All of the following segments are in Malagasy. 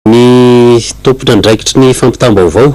Ny tompon'andraikitry ny fampitam-baovao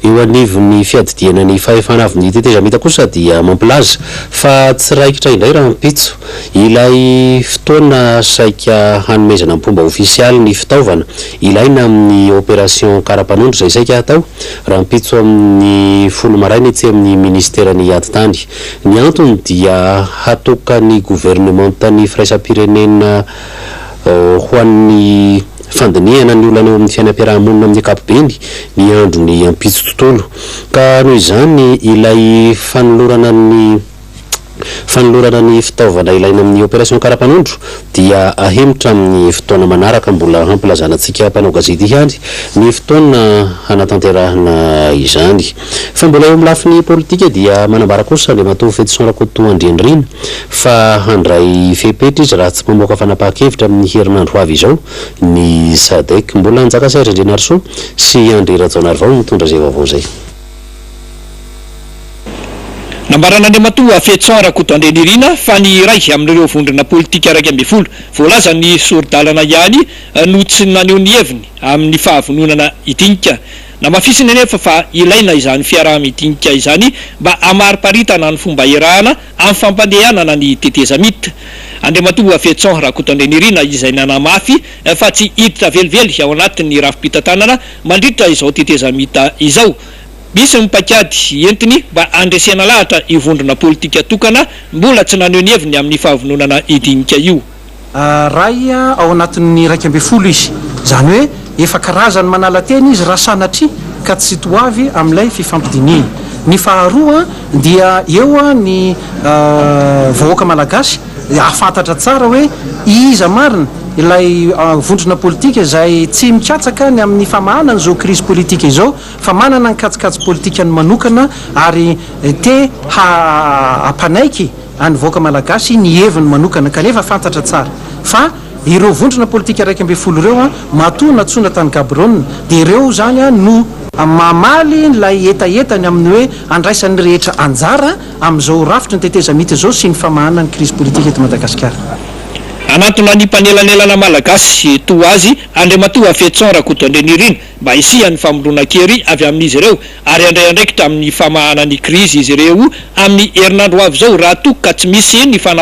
eo anivon'ny fiadidiana ny fahefana avy ny tetezamita kosa dia mampilaza fa tsy raikitra indray rahampitso ilay fotoana saika hanomezana mpomba ofisialy ny fitaovana ilaina amin'ny opération karapanondro izay saika hatao rahampitso amin'ny folo maraina etsy amin'ny minisiteran'ny atitany. Ny antony dia hatokan'ny governemanta ny firaisam-pirenena Ho an'ny fandinihana ny olana eo amin'ny fiainam-piaraha-monina amin'ny ankapobeny, miandry ny ampitso tontolo. Ka noho izany, ilay fanolorana ny fanolorana ny fitaovana ilaina amin'ny opération karapanondro dia ahemotra amin'ny fotoana manaraka. Mbola hampilazana antsika mpanao gazety ihany ny fotoana hanatanterahana izany. Fa mbola eo amin'ny lafiny politika dia manambara kosa Andriamatoa Fetison Rakotoandrianirina, fa handray fepetra izy raha tsy mamoaka fanapahan-kevitra amin'ny herinandro ho avy izao ny Sadec. Mbola Anjakasay Randrianarisoa sy Andry Rajaonarivao no nitondra izay vaovao izay. Nambaran'Andriamatoa Fetson Rakotoandrianirina fa ny iray amin'ireo vondrona politika iraika ambin'ny folo voalazan'ny sori-dalana ihany no tsy naneho ny heviny amin'ny fahavononana hidinika. Namafisiny anefa fa ilaina izany fiaraha-midinika izany mba hamariparitana ny fomba iarahana amin'ny fampandehanana ny tetezamita. Andriamatoa Voafetson Rakotondrenirina izay nanamafy fa tsy hiditra velively ao anatin'ny rafi-pitantanana mandritra izao tetezamita izao. Misy ny paikady entiny mba handresena lahatra io vondrona politika tokana mbola tsy naneho ny heviny amin'ny fahavononana hidinika io. Iray ao anatin'ny iraika ambin'ny folo izy. Izany hoe efa karazany manala tena izy raha sanatria ka tsy to avy amin'ilay fifampidinihina. Ny faharoa dia eo ny vahoaka malagasy hahafantatra tsara hoe iza marina ilay vondrona politika izay tsy mikatsaka ny amin'ny famahana an'izao krizy politika izao fa manana ny kajikajy politikany manokana ary te hampanaiky Any vahoaka Malagasy ny heviny manokana kanefa fantatra tsara fa ireo vondrona politika iraika ambin'ny folo ireo matoa natsoina tany Gaborone dia ireo izany no mamaly ilay hetahetany amin'ny hoe handraisan'ny rehetra anjara amin'izao rafitry ny tetezamita izao sy ny famahana ny krizy politika eto Madagasikara. Hanantona ny mpanelanelana Malagasy toa azy Andriamatoa Fetson Rakotoandrianirina mba hisian'ny famononan-kery avy amin'izy ireo ary handray andraikitra amin'ny famahana ny krizy izy ireo amin'ny herinandro ho avy izao raha toa ka tsy misy ny